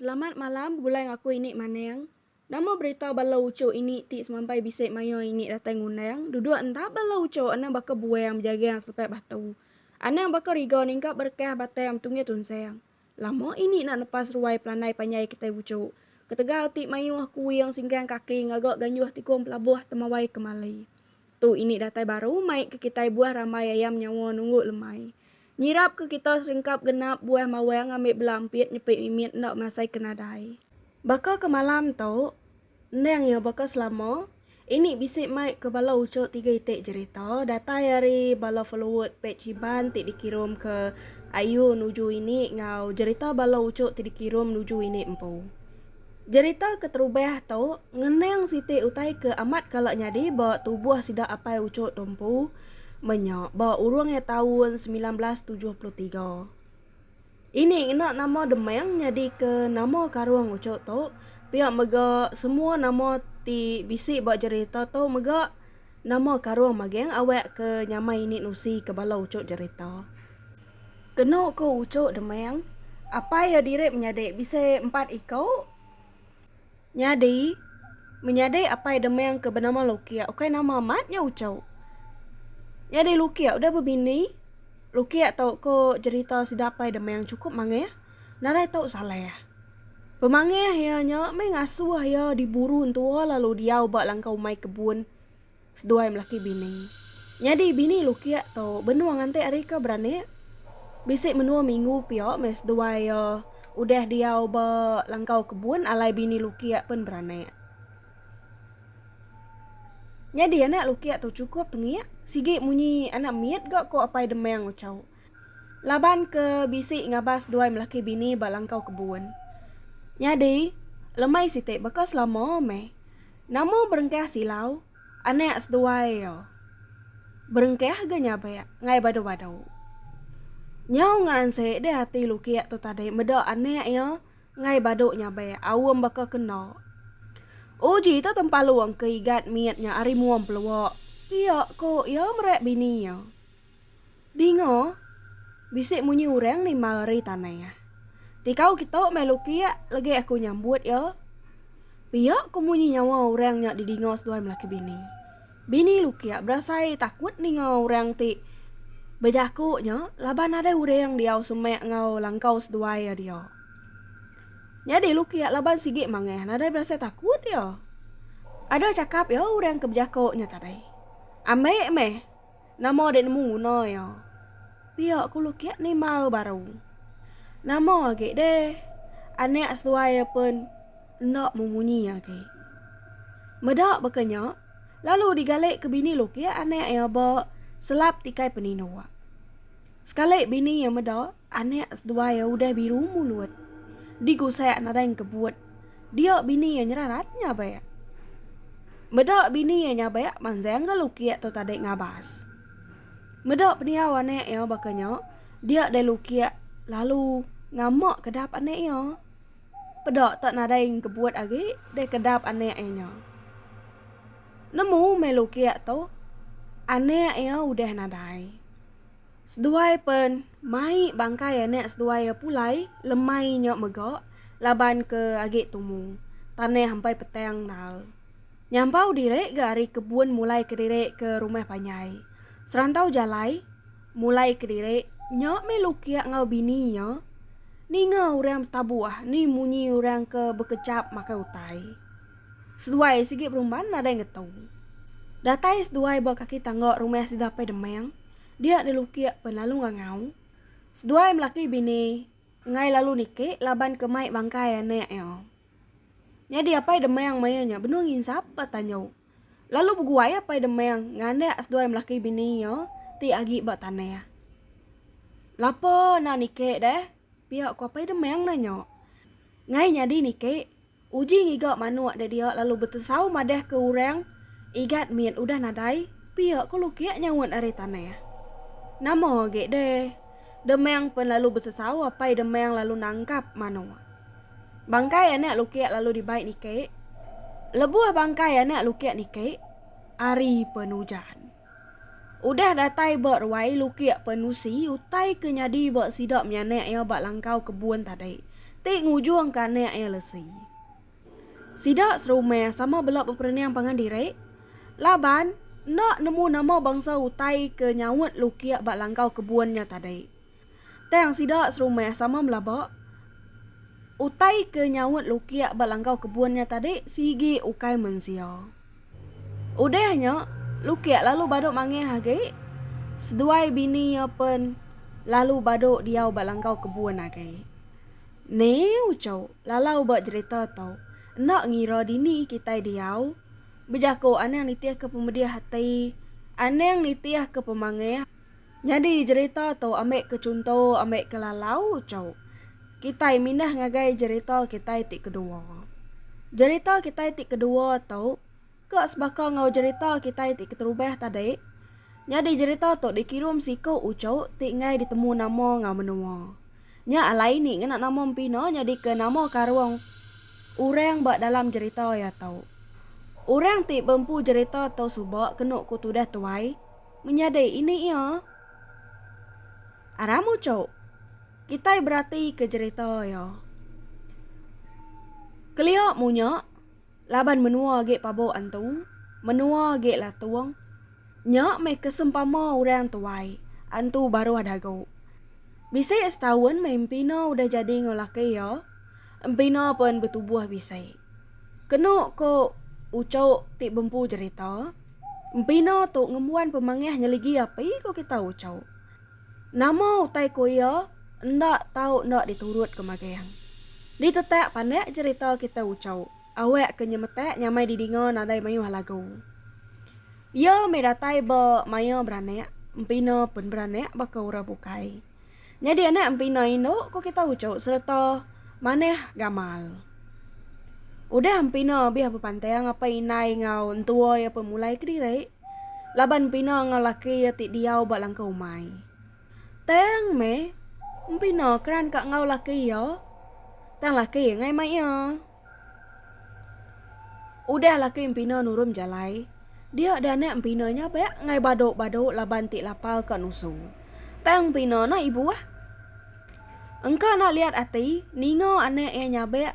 Selamat malam begulai ngaku ini maneng. Nama berita bala uchu ini ti semampai bisi mayuh ini datai ngundang duduk enda bala uchu anang baka buang bejagang selepai batu. Anang baka riga ningkap berekah batang betunggih tunsang. Lama ini nak nepas ruai pelandai panjai kitai uchu. Ketegal ti mayuh kuing singkang kaki ngaga ganjuh tikung pelabuh temawai kemali. Tu ini datai baru mai ke kitai buah rambai ayam nyawa nunggu lemai. Nyirap ke kita serengkap genap buah mawang ngambi bela empit nyepit mimit enda masai ke nadai. Baka ke malam tu, endang iya baka selama, ini bisi mai ke bala uchu tiga iti jerita datai ari bala followed page Iban ti dikirum ke Ayu nuju ini enggau jerita bala uchu ti dikirum nuju ini empu. Jerita keterubah tu ngenang siti utai ke amat kala nyadi ba tubuh sida Apai Ucho Tumpu menya ba urung iya taun semilan belas tujuh puluh tiga. Ini ngena nama Demang nyadika nama karung Ucho tu pia mega semua nama ti bisi ba jerita tu mega nama karung magang awak ke nyamai ini nusi ke bala ucho jerita. Kenu ku Uchu Deming, apai iya diri menyadi bisi empat iku. Nyadi, menyadi apai Deming ke benama Lukia ukai nama amat nya Uchu. Nyadi Lukia udah bebini, Lukia tu ku jerita sida apai Deming chukup manggih nadai tu saleh. Pemanggih iya nya meh ngasuh iya diburu entua lalu diau ba langkau umai kebun. Seduai melaki bini. Nyadi bini Lukiak tu benung nganti ari ke beranik. Bisi menua minggu pia meh seduai iya udah diau ba langkau kebun alai bini Lukiak pen beranik. Nyadi anak Lukiak tu chukup tengik, sigi munyi anak mit ga ko Apai Demang Uchau. laban ke bisi ngabas duai melaki bini ba langkau kebun. Nyadi, lemai siti baka selama meh, nama berengkah silau anak seduai iya berengkah ga nyabek ngai badu-badu. Nyau ngaanse deh ati Lukik tu tadi meda anak iya ngai badu nyabek aum baka ke enda. Uji tu tempalung ke igat mit nya ari mua empelua pia, ku iya meret bini iya. Dinga, bisi munyi urang nimbal ari tanai. Tikau kitu meh lukiak legi aku nyambut iya. Pia ko munyi nyawa urang nya didinga seduai melaki bini. Bini lukiak berasai takut ninga urang ti bejaku nya laban ada urang diau semak enggau langkau seduai iya dia. Nyadi lukiak laban sigi mangah nadai berasai takut iya. Ada chakap iya urang ke bejaku nya tadi. Ambi meh. Nama dek nemu guna ia. Pia ku lukiak ni mau baru. Nama agi deh. Anak seduai ia pun enda memunyi agi. Meda baka nya, lalu digalik ke bini lukiak anak ia ba selap tikai peninduk. Sekali bini ia meda. Anak seduai iya udah biru mulut. Digu sayak nadai engkebut. Dia bini iya nyerah rat nyabak. Meda bini iya nyabak manjang ga lukik tu tadi ngabas. Meda pendiau anak iya baka nya, dia deh lukik lalu ngamak kedap anak iya. Peda tak nadai engkebut agi deh kedap anak iya nya. Nemu meh lukik tu anak iya udah nadai. Seduai pen mai bangkai anak seduai iya pulai lemai nya mega laban ke agi tumu tanah ampai petang endar. Nyampau diri ga ari kebun mulai kediri ke rumah panjai. Serantau jalai mulai kediri nya meh Lukia enggau bini iya ninga orang betabuh ni munyi orang ke bekechap makai utai. Seduai sigi berumban nadai ngetu. Datai seduai ba kaki tangga rumah sida Apai Demang. dia dilukik pen lalu ngangau. Seduai melaki bini enggai lalu niki laban ke mai bangkai anak iya. Nyadi Apai Demang maya nya benung nginsap ba tanjau. Lalu beguai Apai Demang nganak seduai melaki bini iya ti agi ba tanah. Lapa enda niki deh? pia ku Apai Demang nanya. Enggai nyadi niki. Uji ngiga manuk dek dia lalu betesau madah ke urang igat mit udah nadai pia ko lukik nyaut ari tanah. Nama agi deh demang pen lalu besesau apai demang lalu nangkap manuk. Bangkai anak lukik lalu dibai nikik. Lebuh bangkai anak lukik nikik ari pen ujan. Udah datai ba ruai lukik Penusi utai ke nyadi ba sida menyanak iya ba langkau kebun tadi ti ngujung ke anak iya lesi. Sida serumah sama bela beperening pangan diri laban enda nemu nama bangsa utai ke nyaut lukik ba langkau kebun nya tadi. Tang sida serumah sama belaba utai ke nyaut lukik ba langkau kebun nya tadi sigi ukai mensia. Udah nya, lukik lalu badu mangih agi, seduai bini iya pen lalu badu diau ba langkau kebun agi. Neu chau lalau ba jerita tu, enda ngira dini kitai diau, bejaku anang nitihka pemedih ati, anang nitihka pemangih. Nyadi jerita tu ambi ke chunto ambi ke lalau uchu kitai mindah ngagai jerita kitai ti kedua. Jerita kitai ti kedua tu ke sebaka enggau jerita kitai ti keterubah tadi. Nyadi jerita tu dikirum siku uchu ti enggai ditemu nama enggau menua. Nya alai ni ngena nama empina nyadi ke nama karung orang ba dalam jerita iya tu. Orang ti bempu jerita tu suba kenu ku tudah tuai. Menyadi ini iya, Aram Ucok, kitai beratika jerita iya. Kelia munya, laban menua agi pabok antu, menua agi latung, nya meh ke sempama orang tuai, antu baruh dagu. Bisi setaun meh empina udah jadi enggau laki iya, empina pen betubuh bisi. Kenu ko Ucok ti bempu jerita, empina tu ngembuan pemangih nyeligi api ko kita Ucok. Nama utai ko iya enda tau enda diturut ko magang. Ditetak pandak jerita kita Ucok awak ke nyemetak nyamai didinga nadai mayuh lagu. Iya meh datai ba maya beranak empina pen beranak baka orang bukai. Nyadi anak empina indu ku kita uchu sereta manah gamal. Udah empina bih bepanting apai indai enggau entua iya pemulai kediri laban empina enggau laki iya ti diau ba langkau umai. Tang meh empina keran ka enggau laki iya tang laki iya ngai mai iya. Udah laki empina nurum jalai, dia dah anak empina nya beak ngai badu-badu laban ti lapar ka nusu. Tang empina nah ibuh. Engka nak liat ati ninga anak iya nyabek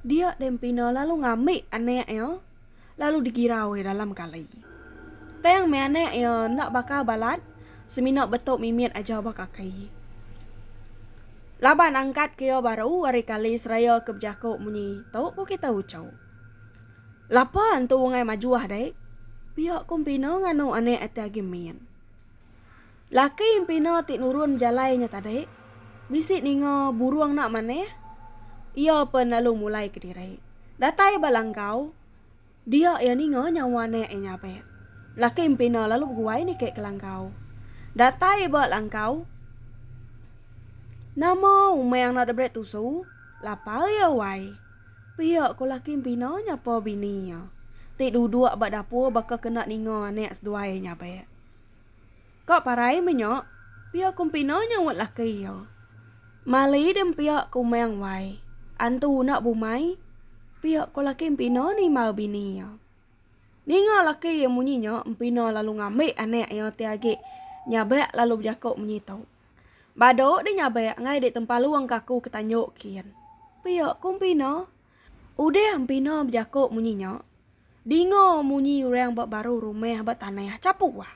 dia deh empina lalu ngambi anak iya. lalu digirau iya dalam kali. Tang meh anak iya enda baka balat semina betu mimit aja ba kaki. Laban angkat ke iya baru ari kali seraya ke bejaku munyi tu ku kita uchu. Lapa entu ungai majuh dek? Pia ku empina nganu anak ati agi min. Laki empina ti nurun jalai nya tadi bisi ninga burung enda manah, iya pen lalu mulai kediri datai ba langgau dia iya ninga nyawa anak iya nyabak. Laki empina lalu beguai niki ke langgau. Datai ba langgau nama umang enda diberi tusu lapar iya wai. Pia ko laki empina nyapa bini iya ti duduk ba dapur baka kena ninga anak seduai iya nyabak. Ka parai menya, pia kumpina nyaut laki iya. Mali dem pia ke umang wai, antu unak bumai, pia ko laki empina nimba bini iya. Ninga laki iya munyi nya empina lalu ngambi anak iya ti agi nyabak lalu bejako munyi tu. Badu di nyabak enggai di tempalung kaku ke tanjok kin. Pia ko empina. Udah empina bejako munyi nya, dinga munyi urang ba baru rumah ba tanah chapu wah.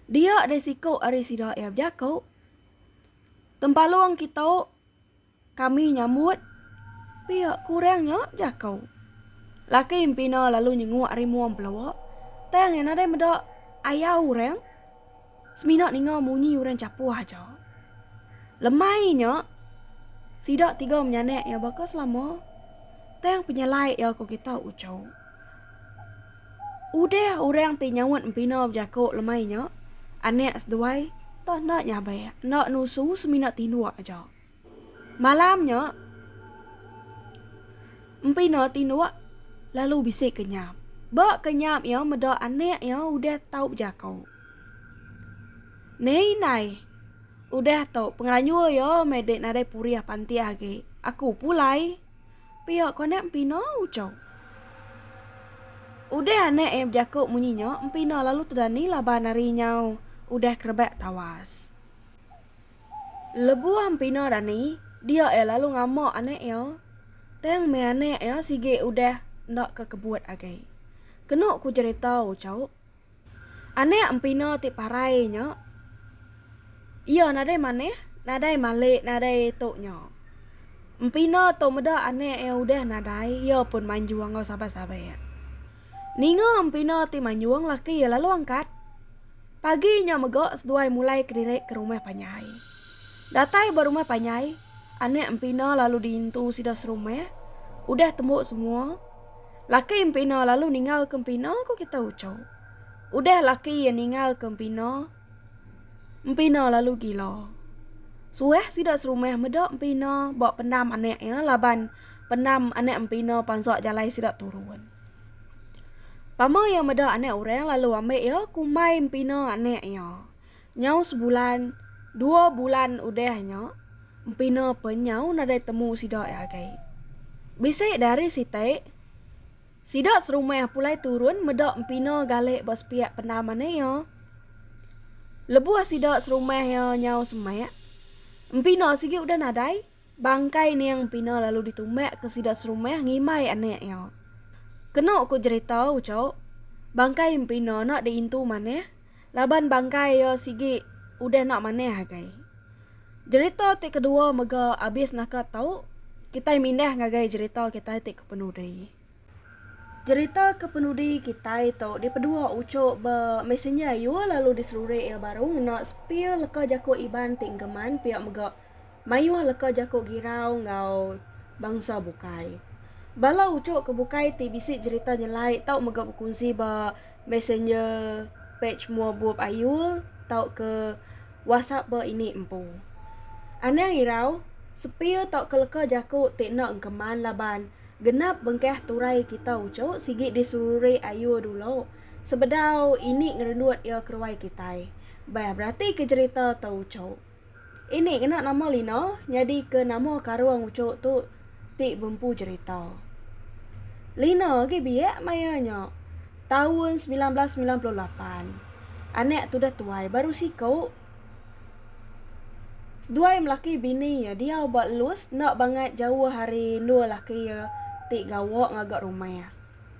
Dia deh siko ari sida iya bejako, Tempalong kito kami nyambut pia ku urang nya bejako. Laki empina lalu nyenguk ari mua empeloa, tang iya nadai meda ayau urang. Semina ninga munyi orang chapuh aja. Lemai nya, sida tiga menyanak iya baka selama, tang penyelai iya ku kita uchu. Udah orang ti nyaut empina bejaku lemai nya, anak seduai tak enda nyabak, enda nusu semina tinduk aja. Malam nya, Empi Noh tinduk lalu bisi ke nyap. Ba ke nyap iya meda anak iya udah tau bejako. Nei indai, udah tu pengelanjur iya meh dek nadai purih pantik agi. Aku pulai, pia ko anak Empi Noh ucau. Udah anak iya bejako munyi nya, Empi Noh lalu tedani laban ari nyau udah kerebak tawas. Lebuh Empina Dani dia iya lalu ngama anak iya, tang meh anak iya sigi udah enda ke kebut agi. Kenu ku cherita Ucok, anak Empina ti parai nya iya nadai manah, nadai malik, nadai tu nya. Empina tu meda anak iya udah nadai, iya pun manjung enggau saban-saban. Ninga Empina ti manjung laki iya lalu angkat. Pagi nya mega seduai mulai kediri ke rumah panjai. Datai ba rumah panjai, anak empina lalu diintu sida serumah, udah tembu semua. Laki empina lalu ningalka empina ku kita uchu. Udah laki iya ningalka empina, empina lalu gila. Suah sida serumah meda empina ba pendam anak iya laban pendam anak empina pansa jalai sida turun. Pama iya meda anak orang lalu ambil iya kumbai empina anak iya. Nyau sebulan dua bulan udah nya empina pe nyau nadai temu sida iya agei. Bisi da hari siti sida serumah pulai turun meda empina gale ba sepiak pendam anak iya. Lebuh sida serumah iya nyau semak empina sigi udah nadai. Bangkai Ning Pina lalu ditumbak ke sida serumah ngimbai anak iya. Kena ku jerita ucok, bangkai Empina enda diintu manah laban bangkai iya sigi udah enda manah agai. Jerita ti kedua mega abis naka tu, kitai mindah ngagai jerita kitai ti ke penudi. Jerita ke penudi kitai tu dipedua uchup ba Messenger ayu lalu diselurik iya baru ngena spear leka jaku Iban ti engkeman pia mega mayuh leka jaku Girau enggau bangsa bukai. Bala uchup ke bukai ti bisi jerita nyelai tau mega bekunsi ba Messenger page mua bup ayu tauka WhatsApp ba ini empu. Anang irau, spear tauka leka jaku ti enda engkeman laban. Genap bengkah turai kita uchu sigi diseruri ayu dulu sebedau ini ngerendut iya keruai kitai. Bah berati ke jerita tu uchu. Ini ngena nama Lina nyadi ke nama karung uchu tu ti bempu jerita. Lina agi biak maya nya taun semilan belas semilan puluh lapan. Anak tudah tuai baru siku. Seduai melaki bini iya diau ba Luz enda bangat jauh ari endur laki iya ti gawa ngaga rumah iya.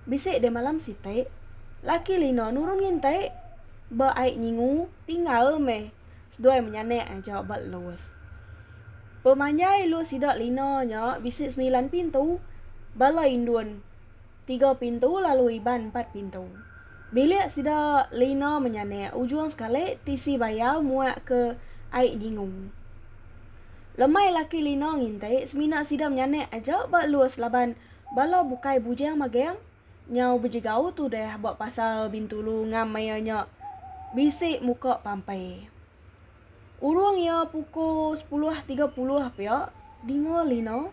Bisi deh malam siti, laki Lina nurun nginti ba ai nyingu tinggal meh seduai menyanak aja ba Luz. Pemanjai lu sida Lina nya bisi semilan pintu, bala indun. tiga pintu lalu Iban empat pintu. Bilik sida Lina menyanik ujung sekali tisi bayau muak ke ai nyingung. Lemai laki Lina nginti semina sida menyanik aja ba lus laban bala bukai bujang magang nyau bejegau tudah ba pasar Bintulu ngam maya nya bisi muka pampai. Urung iya pukul sepuluh tiga puluh pia dinga Lina.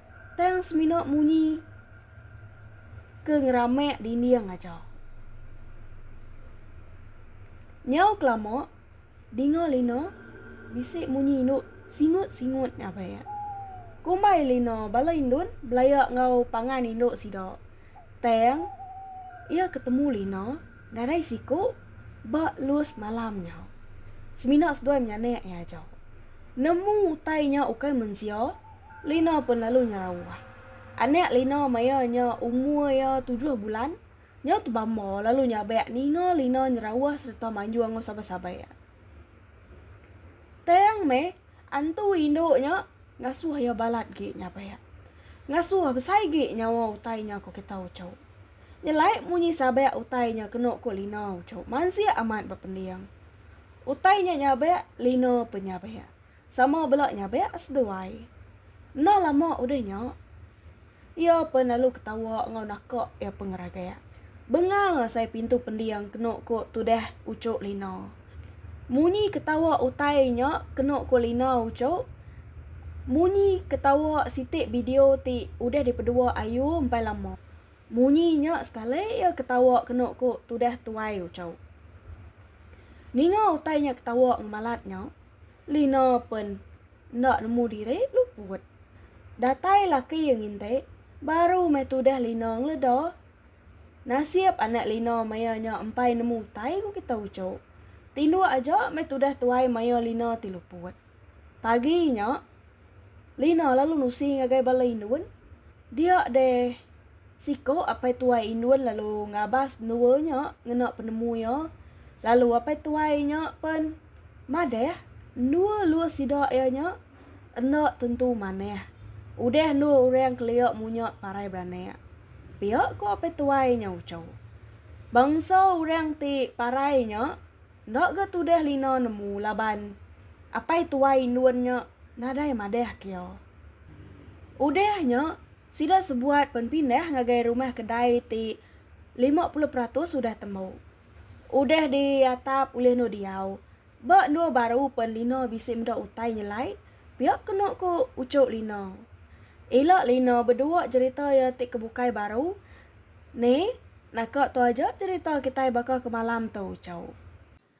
Tang semina munyi ke ngeramak dinding aja. Nyau kelama dinga Lina bisi munyi indu singut-singut ngabek. Kumbai Lina bala indun belaya enggau pangan indu sida. Tang iya ketemu Lina nadai siku ba lus malam nya. Semina seduai menyanak iya aja. Nemu utai nya ukai mensia. Lino pun lalu nyerauh. Anak Lino maya nya umur iya tujuh bulan, nyau tebamba lalu nyabak ninga Lino nyerauh sereta manjung enggau sabai-sabai iya. Tang meh, antu indu nya ngasuh iya balat agi nyabak. Ngasuh besai agi nyawa utai nya ku kita uchu. Nyelai munyi sabak utai nya kenu ku Lino uchu mansik amat bepending. Utai nya nyabak, Lino pun nyabak. Sama bela nya bek seduai. Enda lama udah nya, iya pen lalu ketawa enggau naka iya pengeragak. Bengal asai pintu pending kenu ku tudah uchu Lina. Munyi ketawa utai nya kenu ku Lina uchu munyi ketawa siti bideo ti udah dipedua Ayu empai lama. Munyi nya sekali iya ketawa kenu ku tudah tuai uchu. Ninga utai nya ketawa ngemalat nya. Lina pen enda nemu diri luput. Datai laki iya nginti baru meh tudah Lina ngeleda. Nasib anak Lina maya nya empai nemu utai ku kita uchu. Tinduk aja meh tudah tuai maya Lina ti luput. Pagi nya Lina lalu nusi ngagai bala indun dia deh. Siko apai tuai indun lalu ngabas endua nya ngena penemu iya, lalu apai tuai nya pen madah endua lua sida iya nya enda tentu manah. Udah endua orang kelia munya parai beranak. Pia ko apai tuai nya uchu. Bangsa orang ti parai nya enda ga tudah lina nemu laban apai tuai indun nya nadai madah ke iya. Udah nya. Sida sebuat pen pindah ngagai rumah kedai ti lima puluh peratus udah temu. Udah di atap ulih endur diau. Ba endur baru pen Lina bisi meda utai nyelai, pia kenu ku Uchu Lina. Ila Lina bedua jerita iya ti ke bukai baru. Neh, naka tu aja jerita kitai baka kemalam tu, Uchu.